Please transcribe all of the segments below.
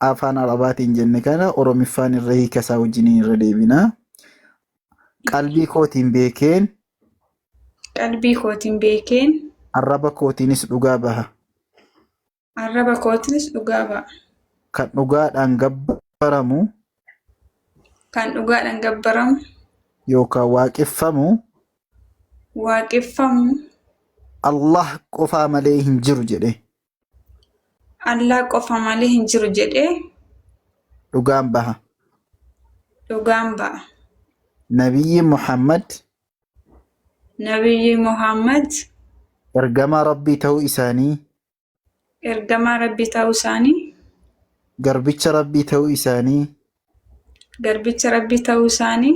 afaan arabaatiin jenne kana oromiffaan irra hiika isaa wajjiniin irra deebina. Qalbii kootiin beekeen Qalbii kootiin beekeen arraba kootiinis dhugaa baha. arraba kootiinis dhugaa ba'a. Kan dhugaadhaan gabbaramu Kan dhugaadhaan gabbaramu yookaan waaqeffamu waaqeffamu Allah qofaa malee hin jiru jedhe. Allah qofa malee hin jiru jedhee dhugaan baha dhugaan ba'a. nabiyyi muhammad Nabiyyi Muhammad ergamaa rabbii ta'uu isaanii ergamaa Rabbii ta'uu isaanii, garbicha rabbii ta'uu isaanii garbicha Rabbii ta'uu isaanii,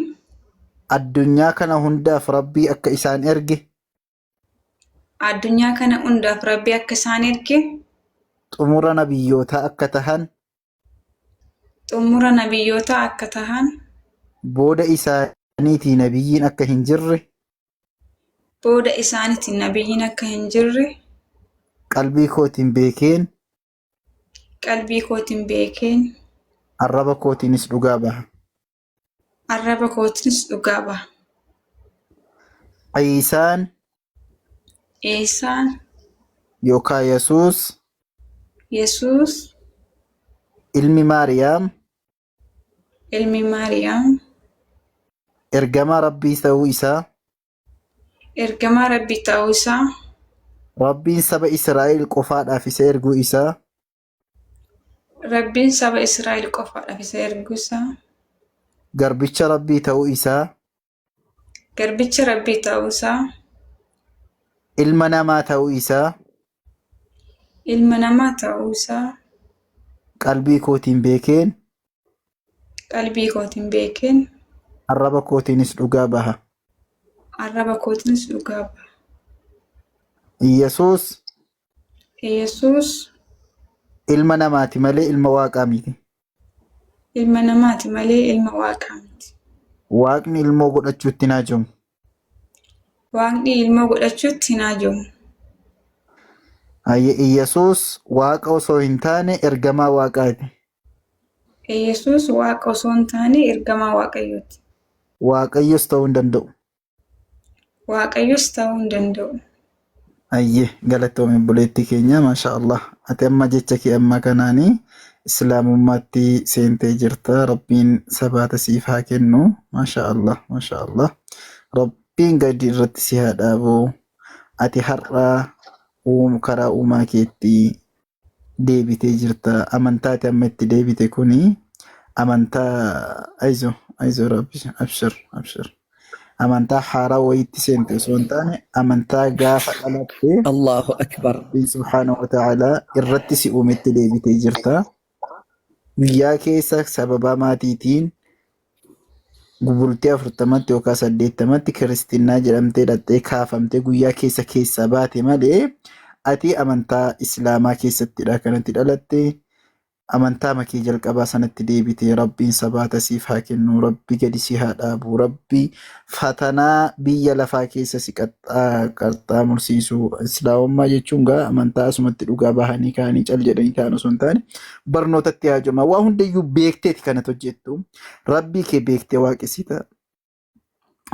addunyaa kana hundaaf rabbii akka isaan erge Addunyaa kana hundaaf Rabbi akka isaan erge, xumura nabiyyootaa akka tahan, xumura nabiyyootaa akka tahan, booda isaaniitii nabiyyiin akka hin jirre booda isaaniitiin nabiyyiin akka hin jirre qalbii kootiin beekeen, qalbii kootiin beekeen, arraba kootiinis dhugaa baha. Arraba kootiinis dhugaa ba'a. Ciisaan Ciisaan yookaan Yesuus Yesuus ilmi Maariyaam ilmi Maariyaam ergamaa Rabbii ta'uu isaa ergamaa Rabbii ta'uu isaa Rabbiin saba Israa'el qofaadhaaf isa erguu isaa Rabbiin saba Israa'el qofaadhaaf isa erguu isaa, garbicha Rabbii ta'uu isaa, garbicha Rabbii ta'uu isaa, ilma namaa ta'uu isaa ilma namaa ta'uu isaa qalbii kootiin beekeen qalbii kootiin beekeen arraba kootiinis dhugaa baha. arraba kootiinis dhugaa baha. Yesuus Yesuus Ilma namaati malee ilma waaqaa miti. ilma namaati malee ilma waaqaa miti. Waaqni ilmoo godhachuutti hin haajamu. Waaqni ilmoo godhachuutti hin haajamu. Ayye Iyyasuus waaqa osoo hin taane ergamaa waaqaati. Yesuus waaqa osoo hin taane ergamaa Waaqayyooti. Waaqayyos ta'uu hin danda'u. Waaqayyos ta'uu hin danda'u. Ayye galatoomi obboleettii keenya maashaa Allah ati amma jecha kee amma kanaani islaamummaatti seentee jirta rabbiin sabaata siif haa kennu maashaa Allah maashaa Allah rabbiin gadi irratti si haa dhaabu ati har'a uum karaa uumaa keetti deebitee jirta amantaati amma itti deebite kuni amantaa aizo aizo rabbi abshir abshir amantaa haaraa wayiitti seente osoo hin taane amantaa gaafa dhalatte Allahu akbar. rabbiin subhaanahu wa ta'aalaa irratti si uumetti deebitee jirta guyyaa keessa sababaa maatiitiin Bultii afurtamatti yookaan saddeettamatti kiristinnaa jedhamtee dhaqxee kaafamtee guyyaa keessa keessaa baate malee ati amantaa islaamaa keessattidha kanatti dhalatte amantaa makee jalqabaa sanatti deebite rabbiin sabaata siif haa kennu rabbi gadi si haa dhaabu rabbi fatanaa biyya lafaa keessa si qaxxaa mursiisu islaamummaa jechuun gaa amantaa asumatti dhugaa bahanii kaanii cal jedhanii kaan osoo hin taane barnootatti haajoma. Waa hundayyuu beekteeti kanat hojjettu. Rabbii kee beektee waaqessita.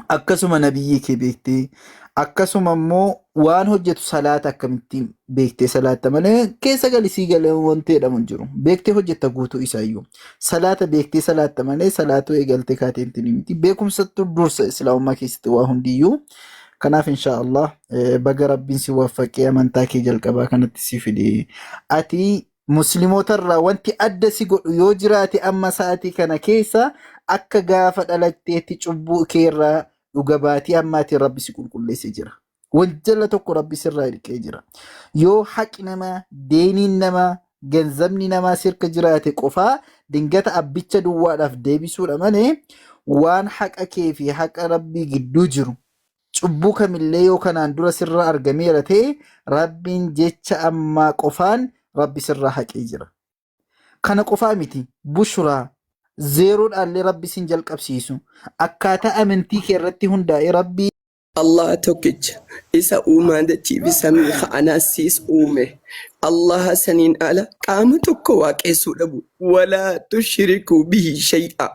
Akkasuma nabiyyii kee beektee. Akkasuma immoo waan hojjetu salaata akkamittiin beektee salaatta malee keessa gali sii galee wanti jedhamu hin jiru. Beektee hojjetta guutuu isaayyuu. Salaata beektee salaatta malee salaatuu eegaltee kaatee miti miti. Beekumsattu dursa islaamummaa keessatti waa hundiyyuu. Kanaaf inshaa Allah eh, baga rabbiin si waffaqee amantaa kee jalqabaa kanatti si fide. Ati Muslimootarraa wanti adda si godhu yoo jiraate amma sa'aatii kana keessa akka gaafa dhalatteetti cubbuu keerraa dhuga baatii ammaatiin Rabbi si qulqulleesse jira. Wanjala tokko Rabbi sirraa hirqee jira. Yoo haqi namaa, deeniin namaa, ganzabni namaa sirka jiraate qofaa dingata abbicha duwwaadhaaf deebisuudha malee waan haqa kee fi haqa Rabbii gidduu jiru Cubbuu kamillee yoo kanaan dura sirraa argameera ta'e, Rabbiin jecha ammaa qofaan Rabbi sirraa haqee jira. Kana qofaa miti, bushraa, zeeroodhaallee Rabbi sin jalqabsiisu. Akkaataa amantii kee irratti hundaa'ee Rabbi. Allaha tokkicha, Isa uumaa dachii fi samii ka'anaas siis uume. Allaha saniin ala qaama tokko waaqeessuu dhabu. Walaa tushrikuu bihi shay'aa.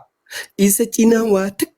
Isa cinaa waa takka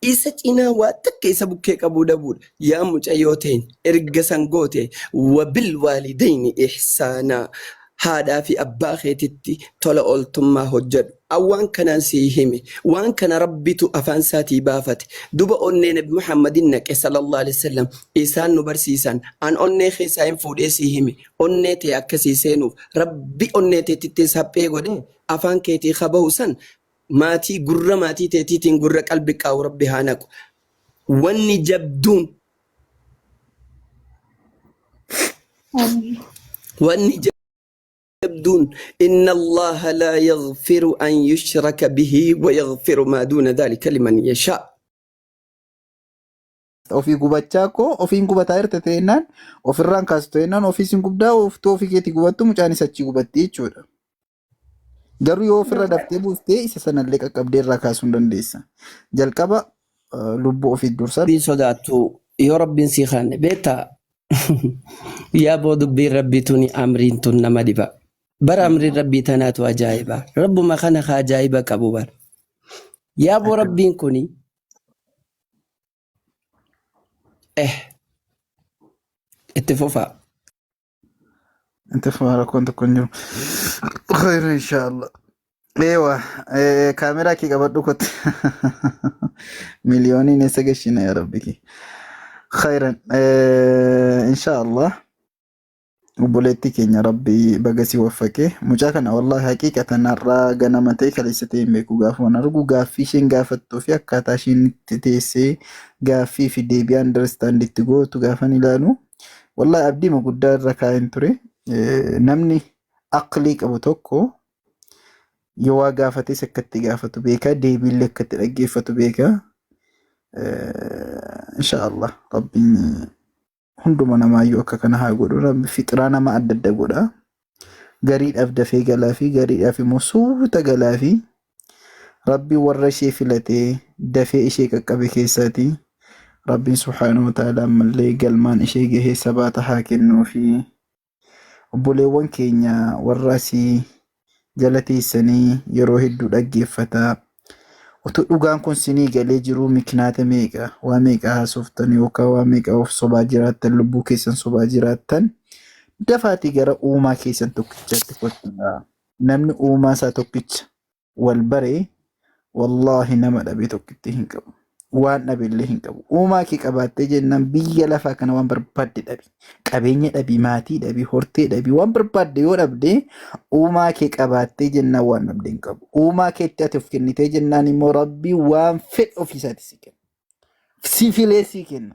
Isa cinaa waa takka isa bukkee qabuu dhabuudha. Yaa mucayyoo teenya erga san goote wabilwaalidayni ihsaanaa haadhaa fi abbaa keetitti tola ooltummaa hojjadhu. An waan kanaan sii hime waan kana Rabbitu afaan isaatii baafate. Duba onnee nabi Muhammadin naqe sallallahu aleyh wasallam isaan nu barsiisan. An onnee kee saahin fuudhee sii hime onnee tee akka sii seenuuf Rabbi onnee teetittis haphee godhee afaan keetii ka bahu san maatii gurra maatii teetiitiin gurra qalbi qaa'u rabbi haa naqu wanni jabduun Amiin. wanni jabduun inna allaha laa yaghfiru an yushraka bihi wa yaghfiru maa duuna dhaalika liman yashaa ofii gubachaa koo ofiin gubataa jirte ta'ennaan ofirraan kaastu ta'ennaan ofii sin gubdaa oftuu ofii keetii gubattu mucaanis achii gubatti jechuudha. Garuu yoo ofirra daftee buuftee isa sanallee qaqqabdee irraa kaasuu hin dandeessa. Jalqaba eh, lubbuu ofiit dursa. Rabbiin sodaattu yoo rabbiin sii kaanne beektaa yaa boo dubbiin rabbii tuni amriin tun nama dhiba bara amriin rabbii tanaatu ajaa'iba rabbuma kana ka ajaa'iba qabu bara yaa boo rabbiin kuni eh itti fufaa Inta fumaa rakkoon tokko hin jiru. Khayra inshaallah. Eewa eh, kaameraa kee qabadhu kotte. Miliyooniin eessa gashina yaa rabbi kee. Khayran eh, inshaallah. Obboleettii keenya rabbi baga si waffaqe. Mucaa kana wallahi haqiiqatan har'aa ganama ta'e kaleessa ta'e hin beeku gaafa waan argu gaaffii isheen gaafattuu fi akkaataa isheen itti teessee gaaffii fi deebii understand itti gootu gaafan ilaalu. Wallahi abdii guddaa irra kaa'een ture. Namni aqlii qabu tokko yoo waa gaafates akka itti gaafatu beeka, deebiillee akka itti dhaggeeffatu beeka. Insha Allah rabbiin hunduma namaayyuu akka kana haa godhu. Rabbi fixraa nama adda adda godha. gariidhaaf dafee galaa fi gariidhaaf immoo suuta galaa fi rabbi warra ishee filatee dafee ishee qaqqabe keessaati rabbiin subhaanahu wa ta'ala ammallee galmaan ishee gahee sabaata haa kennuu fi obboleewwan keenya warra asii jala teessanii yeroo hedduu dhaggeeffataa Utuu dhugaan kun sinii galee jiruu mikinaata meeqa waa meeqa haasoftan yookaan waa meeqa of sobaa jiraattan lubbuu keessan sobaa jiraattan dafaatii gara uumaa keessan tokkichaatti kottaa. Namni uumaa isaa tokkicha wal bare wallaahi nama dhabee tokkittii hin qabu. waan dhabe illee hin qabu. Uumaa kee qabaattee jennaan biyya lafaa kana waan barbaadde dhabi. Qabeenya dhabi, maatii dhabi, hortee dhabi, waan barbaadde yoo dhabde uumaa kee qabaattee jennaan waan dhabde hin qabu. Uumaa keetti ati of kennitee jennaan immoo rabbi waan fedhe ofiisaati si kenna. Sifilee si kenna.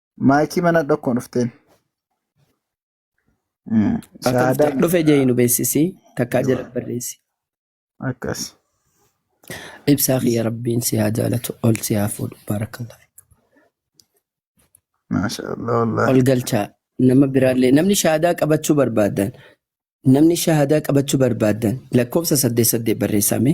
Maayikii mana dhokkoon dhufteen. Mm, Ata Shahaadaa dhufte dhufe jee nu beeksisi takkaa jala barreessi. akkas. Ibsaa kiyya rabbiin si haa jaalatu ol si haa fuudhu baarakallah. Maasha Allah wallaahi. Ol galchaa nama biraallee namni shahaadaa qabachuu barbaadan namni shahaadaa qabachuu barbaadan lakkoofsa saddeet saddeet barreessame.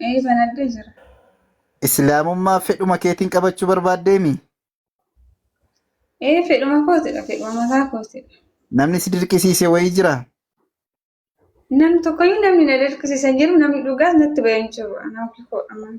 Ee banadhee jira. Islaamummaa fedhuma keetiin qabachuu barbaaddeemi? Ee fedhuma kootidha fedhuma mataa kootidha. Namni si dirqisiise wayii jira? Namni tokkoyyuu namni na dirqisiisan jiru namni dhugaas natti bahee hin jiru. Anaaf koodha malee.